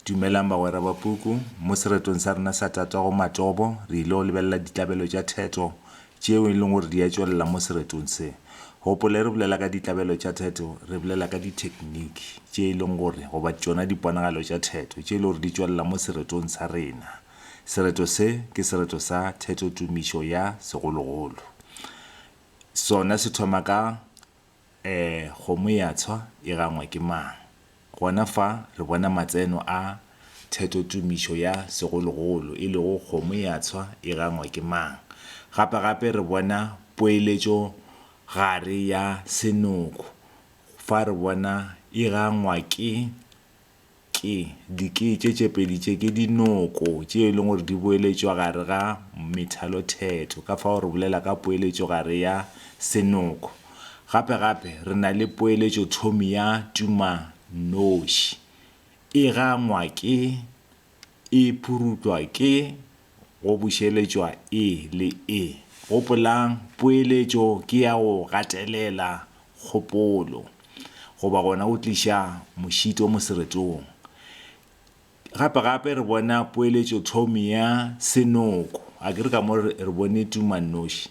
Dumelang bagwera ba puku. Mo seretong sa rena sa tatago Matobo, re ile go lebelela ditlabelo tša theto tšeo e leng gore di a tšwelela mo seretong se. Gopola, e re bolela ka ditlabelo tša theto, re bolela ka dithekniki tše e leng gore, goba tšona diponagalo tša theto, tše e lego gore di tšwelela mo seretong sa rena. Sereto se ke sereto sa theto-tumišo ya segologolo. Sona se thoma ka Ee, kgomo ya tshwa e gangwa ke mang? Gona fa re bona matseno a thetotumišo ya segologolo, e lego kgomo ya tshwa e gangwa ke mang. Gape gape re bona poeletšogare ya senoko fa re bona e gangwa ke. Ke dikete tše pedi tše ke dinoko tše e leng gore di boeletšwa gare ga methalothetho ka fao re bolela ka poeletšo gare ya senoko. Gape gape re na le poeletšothomi ya tumanoši e gangwa ke e phurutwa ke go bušeletšwa e le e. Gopolang, poeletšo ke ya go gatelela kgopolo, goba gona go tliša mošito moseretong. Gape-gape re bona poeletšothomi ya senoko, a ke re ka mo re bone tumannoši?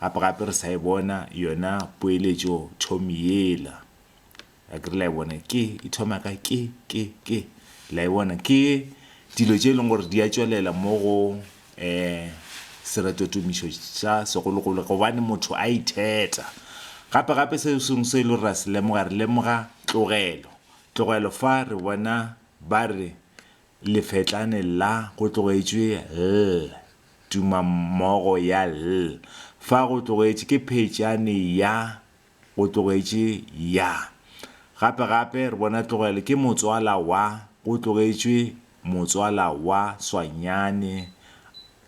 Gape-gape re sa e bona yona poeletšothomi yela. A ke re la e bona? Ke, e thoma ka ke, ke, ke. La e bona? Ke dilo tše e leng gore di a tšwelela mo go um seretotomišo sa segologolo gobane motho a itheta. Gape-gape se sengwe se e le gore ra se lemoga, re lemoga tlogelo. Tlogelo fa re bona ba re Lefetlane la go tlogetšwe ll, tumammogo ya ll, fa go tlogetše ke phetšane ya go tlogetše ya. Gape gape re bona tlogelo ke motswala wa go tlogetšwe motswala wa swanyane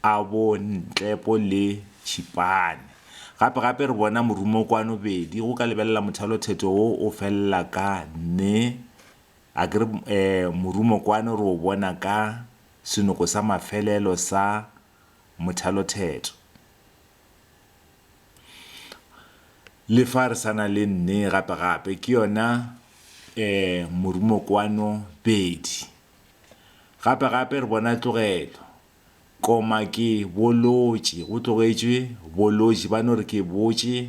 a bo ntlepo le tšhipane. Gape gape re bona morumokwano bedi go ka lebelela mothalothetho wo o felela ka ne A ke re morumo kwano re o bona ka senoko sa mafelelo sa mothalothetho. Le fa re sa na le nne gape gape ke yona morumo kwano bedi. Gape gape re bona tlogelo, koma ke bolotše, go tlogetšwe bolotše, ba no re ke botše,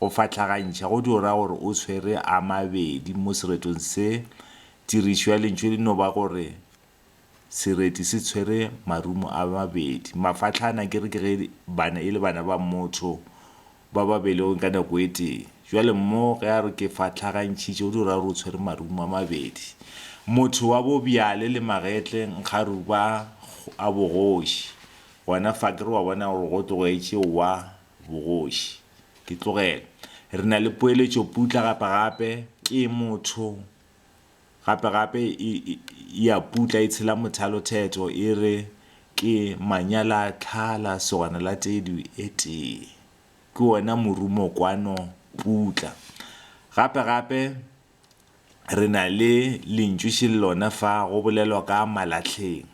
Go fahlagantšha go tšo ra gore o swere a mabedi mo seretong se. Tirišo ya lentšu le no ba gore sereti se tshwere marumo a mabedi. Mafahlana akere ke ge bana e le bana ba motho ba ba belegweng ka nako e tee. Jwale mmo ge a re ke fahlagantšhitše go tšo ra gore o tshwere marumo a mabedi. Motho wa bobjale le magetle nkga ruba a bogoši. Gona fa akere wa bona gore go tlogetše wa Bogoši. Ke tlogele. Re na le poeletšoputla gape-gape, ke motho. Gape-gape e, e, e a putla, e tshela mothalothetho, e re, Ke manyalatlhala, segwana la tedu e tee. Ke wona morumo kwano, putla. Gape-gape. Re na le lentšu še le lona fa go bolelwa ka malahleng.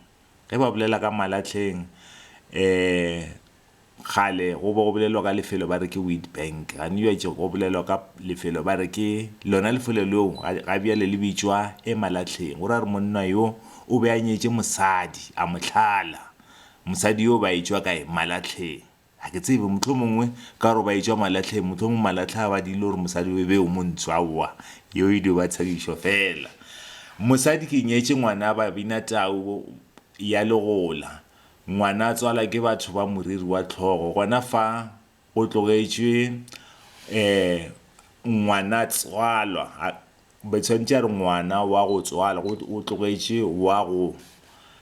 Ge ba bolela ka malahleng um kgale go be go bolelwa ka lefelo ba re ke Witbank, gane bjatše go bolelwa ka lefelo ba re ke lona lefelo leo ga bjale le bitšwa Emalahleng. Go ra gore monna yo o be a nyetše mosadi a mo tlhala, mosadi yo ba etšwa kae, Malahleng. Ga ke tsebe, mohlomongwe ka gore ba e tšwa malahleng, mohlomongwe malahle a ba dirile gore mosadi o e be o montsho, aowa, yeo e dio ba tshedišo feela. Mosadi ke nyetše ngwana ba bina tau ya legola, ngwana a tswalwa ke batho ba moriri wa tlhogo, gona fa go tlogetšwe um ngwana tswalwa. Be tshwanetse a re ngwana wa go tswala go o tlogetše wa go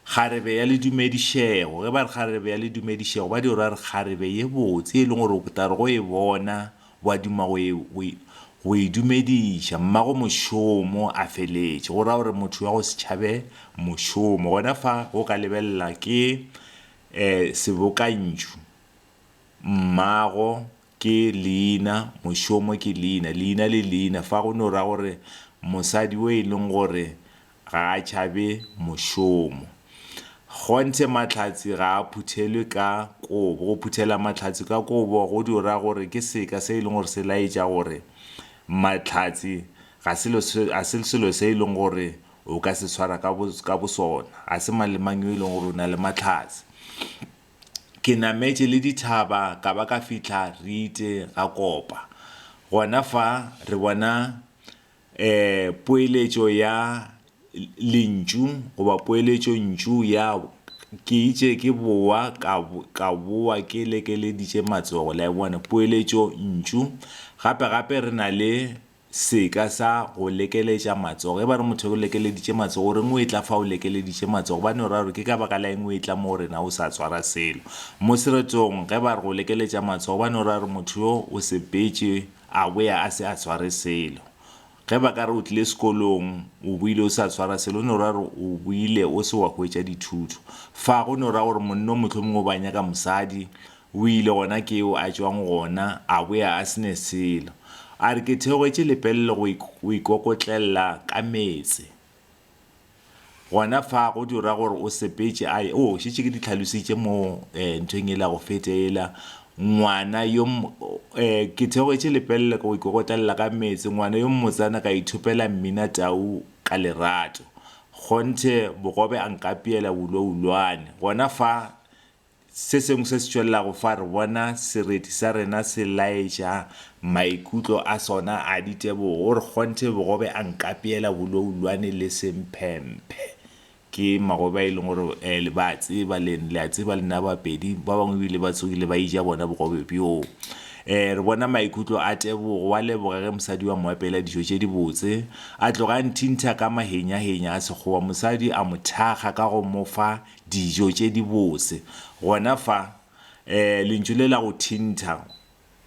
kgarebe ya le dumedišego ge ba re kgarebe ya le dumedišego ba di ra re kgarebe ye botse e leng gore o tla re go e bona wa duma go e go e go e dumediša mmago mošomo a feletše go ra gore motho wa go se tšhabe mošomo gona fa go ka lebelela ke um sebokantšu mmago ke leina, mošomo ke leina, leina le leina, fa go no ra gore mosadi o e leng gore ga a tšhabe mošomo. Kgonthe Mahlatse ga a phuthelwe ka kobo, go phuthela Mahlatse ka kobo go dio ra gore ke seka se e leng gore se laetša gore Mahlatse ga se lo se ga se selo se e leng gore o ka se tshwara ka bo ka bosona, ga se mang le mang yo e leng gore o na le Mahlatse. Ke nametše le dithaba ka ba ka fihla Riite ga Kopa. Gona fa re bona um poeletšo ya lentšu goba poeletšontšu ya ke itše ke bowa ka ka bowa ke lekeleditše matsogo. La e bona? Poeletšontšu. Gape-gape re na le seka sa go lekeletša matsogo. Ge ba re motho o lekeleditše matsogo, o reng o etla fa o lekeleditše matsogo? Gobane o ra gore ke ka baka la eng o etla mo go rena o sa tswara selo? Mo seretong, ge ba re go lekeletša matsogo, gobane o ra gore motho yo o sepetše a boya a se a tshware selo. Ge ba ka re o tlile sekolong, o boile o sa tshwara selo, go no ra gore o boile o se wa hwetša dithuto. Fa go no ra gore monna o mohlomongwe o ba nyaka mosadi, O ile gona ke yo a tšwang gona a boya a se ne selo. A re, Ke theogetše lepelle go go ikokotlela ka meetse. Gona fa go tšo ra gore o sepetše, a ye. Oo, šetše ke di tlhalositše mo nthong yela ya go feta yela. Ngwana yo Ke theogetše lepelle go ikokotlela ka meetse, ngwana yo mmotsana ka ithopela mminatau ka lerato. Kgonthe bogobe a nkapeela wulowulwane. Gona fa Se sengwe se se tšwelelago fa re bona sereti sa rena se laetša maikutlo a sona a ditebogo, re kgonthe bogobe a nkapeela boloulwane le semphemphe. Ke magobe a e leng gore um le ba a tseba, le le a tseba le nna Bapedi. Ba bangwe ebile ba tsogile ba eja bona bogobe bjoo. Um re bona maikutlo a Tebogo, wa leboga ge mosadi wa mo apeela dijo tše dibotse, a tloga a nthintha ka mahenyahenya a Sekgowa. Mosadi a mo thakga ka go mo fa dijo tše dibose. Gona fa, lentšu le la go thintha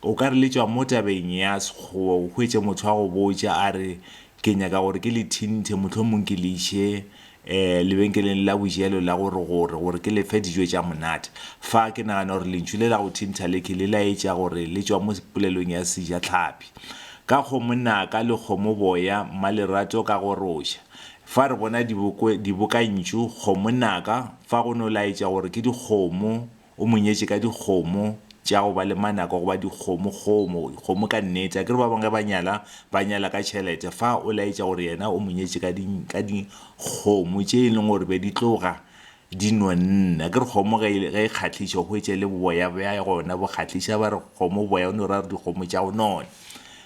o ka re le tšwa mo tabeng ya Sekgowa, o hwetše motho a go botša a re, Ke nyaka gore ke le thinthe, mohlomong ke le iše lebenkeleng la bojelo la gore-gore, gore ke le fe dijo tša monate. Fa ke nagana gore lentšu le la go thintha le ke le laetša gore le tšwa mo polelong ya Sejatlhapi, Ka kgomo naka, le kgomo boya, Mmalerato ka goroša. Fa re bona diboko, dibokantšu, kgomo naka, fa go no laetša gore ke dikgomo, o mo nyetše ka dikgomo, tša go ba le manaka go ba dikgomo, kgomo, kgomo ka nnete. Akere ba bangwe ge ba nyala, ba nyala ka tšhelete, fa o laetša gore yena o mo nyetše ka di, ka dikgomo tše e leng gore be di tloga Di nonne. Akere kgomo ge e ge e kgahliša o hwetše le boboya bja gona bo kgahliša. Ba re kgomo boboya o no ra re dikgomo tša go nona.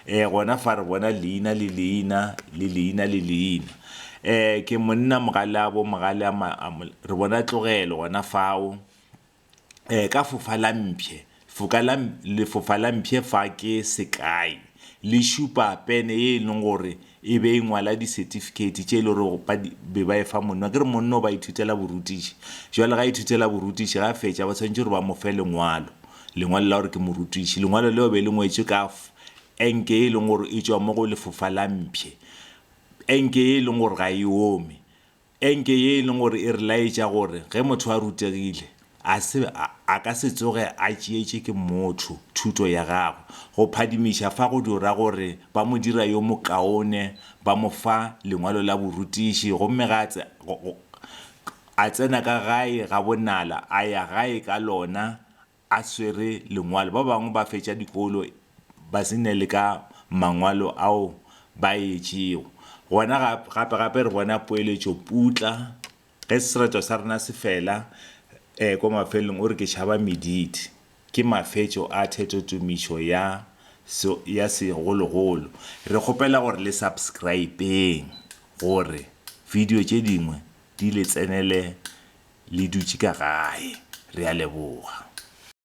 Um gona fa re bona leina le leina le leina le leina. Um ke monna mogale a bo mogale a ma a mo re bona tlogelo gona fao. eh, ka fofa la mpshe foka la lefofa la mpshe fa ke sekai le šupa pene ye e leng gore e be e ngwala di-certificate tše e le gore ba be ba e fa monno ke re monno ba ithutela borutiši jwale ga ithutela borutiši ga fetša ba tshwanetse gore ba mo fe lengwalo lengwalo la gore ke morutiši lengwalo leo be le ngwetswe ka enke e leng gore e tswa mo go lefofa la mpšhe enke e leng gore ga e ome Enke ye e leng gore e re laetša gore ge motho a rutegile, a se, a, a ka se tsoge a tšeetše ke mmotho thuto ya gagwe. Go phadimiša fa go dio ra gore ba mo dira yo mokaone, ba mo fa lengwalo la borutiši, gomme ga a tse, go, go, a tsena ka gae gabonala, a ya gae ka lona, a swere lengwalo. Ba bangwe ba fetša dikolo ba se ne le ka mangwalo ao ba a etšego. Gona gapegape re bona poeletšo putla, Ge sereto sa rena se fela, e, kwa mafelelong o re, Ke tšhaba mediti. Ke mafetšo a thetotumišo ya se, ya segologolo. Re kgopela gore le subscribe-eng gore video tše dingwe Di le tsenele le dutše ka gae. Re a leboga.